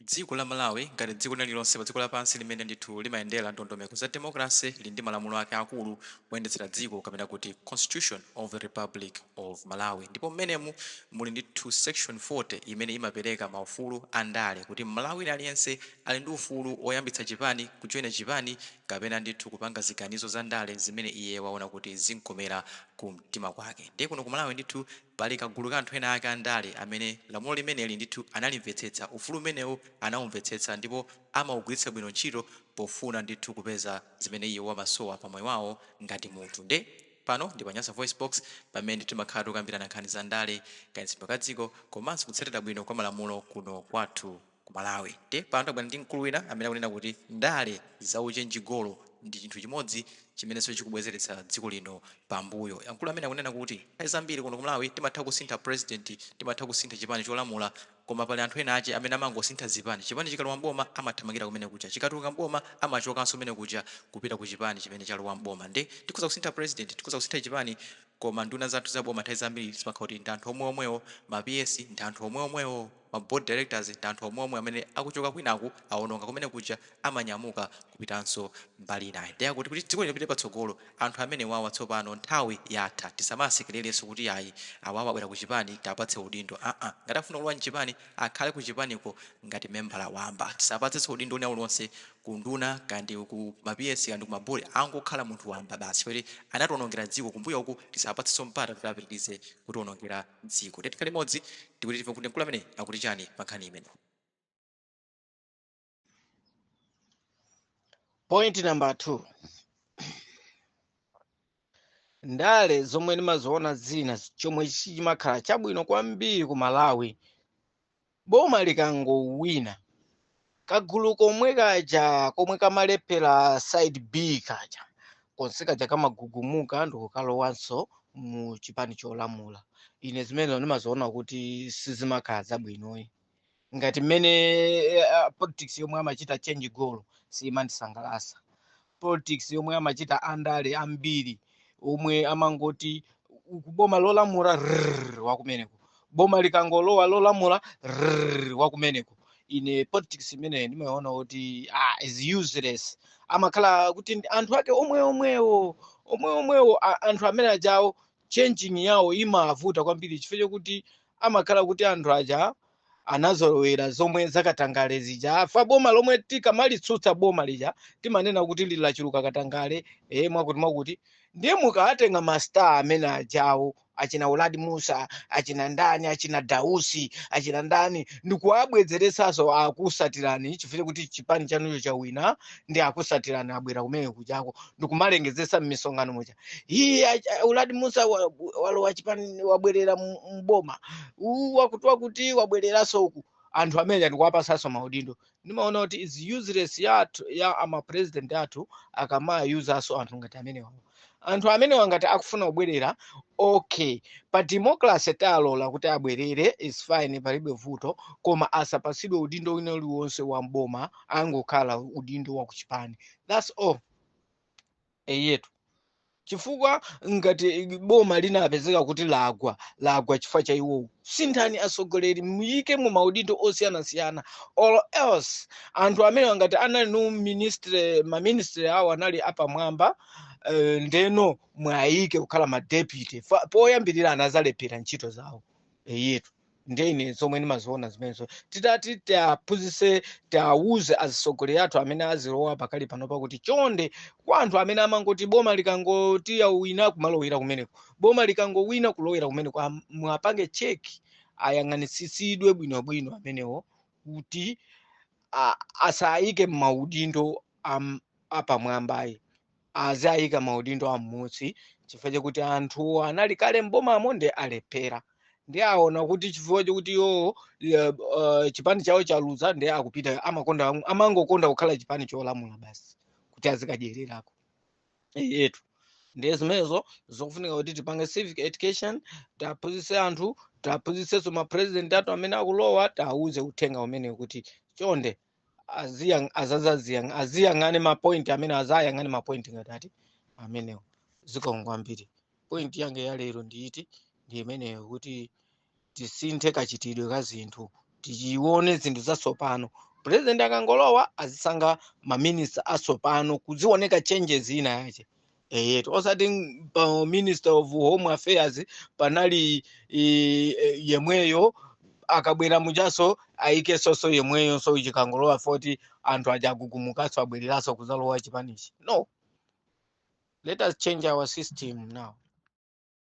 Dziko la Malawi, ngati dziko lina lililonse padziko lapansi limene ndithu limayendera ndondomeko za demokalase, lili ndi malamulo ake aakulu oyendetsera dziko kapena kuti Constitution of the Republic of Malawi ndipo mmenemu muli ndithu section 40 imene imapereka maufulu a ndale kuti Mmalawi wina aliyense ali ndi ufulu woyambitsa chipani, kujoina chipani kapena ndithu kupanga ziganizo za ndale zimene iye waona kuti zimkomera kumtima kwake. Ndiye kuno ku Malawi ndithu. Pali kagulu ka anthu ena ake andale amene lamulo limeneli ndithu analimvetsetsa, ufulu umenewu anaumvetsetsa ndipo amaugwiritsa bwino ntchito pofuna ndithu kupeza zimene iwo amasowa pa moyo wawo ngati munthu. Nde pano ndi pa Nyasa VoiceBox pamene timakhala tikukambirana nkhani za ndale, kayendetsedwe ka dziko komanso kutsatira bwino kwa malamulo kuno kwathu. ku Malawi nde pano tabwera ndi mkulu wina amene akunena kuti ndale za uchenjigolo ndi chinthu chimodzi chimenenso chikubwezeretsa dziko lino pa mbuyo. Mkulu amene akunena kuti nthawi zambiri kuno ku Malawi timatha kusintha president, timatha kusintha chipani cholamula koma pali anthu ena ache amene amangosintha zipani, chipani chikalowa m'boma amathamangira kumene kuja chikatuluka m'boma amachokanso kumene kuja kupita ku chipani chimene chalowa m'boma nde tikhoza kusintha president, tikhoza kusintha chipani koma nduna zathu za boma nthawi zambiri zimakhala kuti ndi anthu omwe omwewo, ma PS ndi anthu omwe omwewo. Ma board directors ndi anthu omweomwe amene akuchoka kwinaku awononga kumene kuja amanyamuka kupitanso mbali inayi nde akuti kuti dziko lino lipite patsogolo anthu amenewawa tsopano nthawi yatha tisamawasekererenso kuti ayi awawa abwera ku chipani tiwapatse udindo aa ngati akufuna kulowa mchipani akhale ku chipaniko ngati membala wamba tisawapatsenso udindo wina uliwonse ku nduna kaya ndi ku ma PS kaya ndi ku ma board angokhala munthu wamba basi chifukwa choti anatiwonongera dziko kumbuyoku tisawapatsenso mpata kuti apitirize kutiwonongera dziko. Tiye tikhale limodzi ndikuti timve kuti mkulu ameneyi akuti chani pa nkhani imeneyi. Point number two. Ndale zomwe ndimaziona zina chomwe chimakhala chabwino kwambiri ku Malawi Boma likangowina, kagulu komwe kaja komwe kamalephera side B kaja konse kaja kamagugumuka ndikukalowanso mu chipani cholamula. Ine zimenezo ndimaziona kuti sizimakhala zabwinoyi ngati mmene eh, ah, politics yomwe amachita change goal siyimandisangalasa. politics yomwe amachita andale ambiri omwe amangoti uku boma lolamula rrrr, wakumeneko boma likangolowa lolamula rrrr, wakumeneko ine politics imeneyi ndimaona kuti ah, is useless amakhala kuti ndi anthu ake omwe omwewo omwe omwewo a- anthu amene ajawo changing yawo imavuta kwambiri chifukwa chokuti amakhala kuti anthu aja anazolowera zomwe zakatangale zija afa boma lomwe tikamalitsutsa boma lija timanena kuti lili lachuluka katangale e mwakuti mwakuti ndiye mukawatenga mastar amene ajawo achina uladi musa achina ndani achina dausi achina ndani ndikuwabwezeretsanso akusatirani chifukwa chokuti chipani chanucho chawina ndi akusatirani abwera kumene kujako ndikumalengezesa m'misonkhano muja iye acha- uladi musa wa- walowa chipani wabwerera mu- mboma uwu wakuti wakuti wabwereranso uku anthu amene ndikuwapasanso maudindo ndimaona kuti is useless ya ama president athu akamawayuzanso anthu ngati amenewa anthu amenewa ngati akufuna kubwerera okay pa democracy talola kuti abwerere is fine palibe vuto koma asapasidwe udindo wina uliwonse wa mboma angokhala udindo wa kuchipani that's all eyetu chifukwa ngati boma linapezeka kuti lagwa lagwa chifukwa cha iwowo sinthani atsogoleri muyike mu maudindo osiyanasiyana or else anthu amenewa ngati anali no ministry maministry awo anali apamwamba eh, ndeno muwayike kukhala ma deputy Fa- poyambirira anazalephera ntchito zawo eyetu ndiye ine zomwe ndimaziona zimenezo titati tiaphunzise tiawuze azisogoleri athu amene azilowa pakali panopa kuti chonde kwa anthu amene amangoti boma likangoti lawina kumalowera kumeneko boma likangowina kulowera kumeneko am- muwapange cheki ayang'anitsitsidwe bwinobwino amenewo kuti a- asayike m'maudindo am- apamwambayi aziayika maudindo am'munsi chifukwa chakuti anthuwo anali kale m'bomamo ndi alephera ndi aona kuti chifukwa chakuti iwowo eh, eh, chipani chawo chaluza ndi akupita amakonda amangokonda kukhala chipani cholamula basi kuti azikadyererako yetu ndiye zimenezo zokufunika kuti tipange civic education tiaphunzitse anthu tiaphunzitsenso mapresident athu amene akulowa tiawuze uthenga umene kuti chonde aziyang- azazaziyang- aziyang'ane mapointi amene azayang'ane mapointi ngati ati amenewo zikomo kwambiri pointi yange ya lero ndiyiti ndi imeneyo kuti tisinthe kachitidwe ka zinthu tizione zinthu zatsopano purezidenti akangolowa azisankha maminista atsopano kuzioneka changes ina yache eyetu osati ng- pa minister of home affairs panali i, e, yemweyo akabwera muchaso ayikeso yemweyo so chikangolowa voti anthu aja agumukaso abwereraso kuzalowa chipanichi no let us change our system now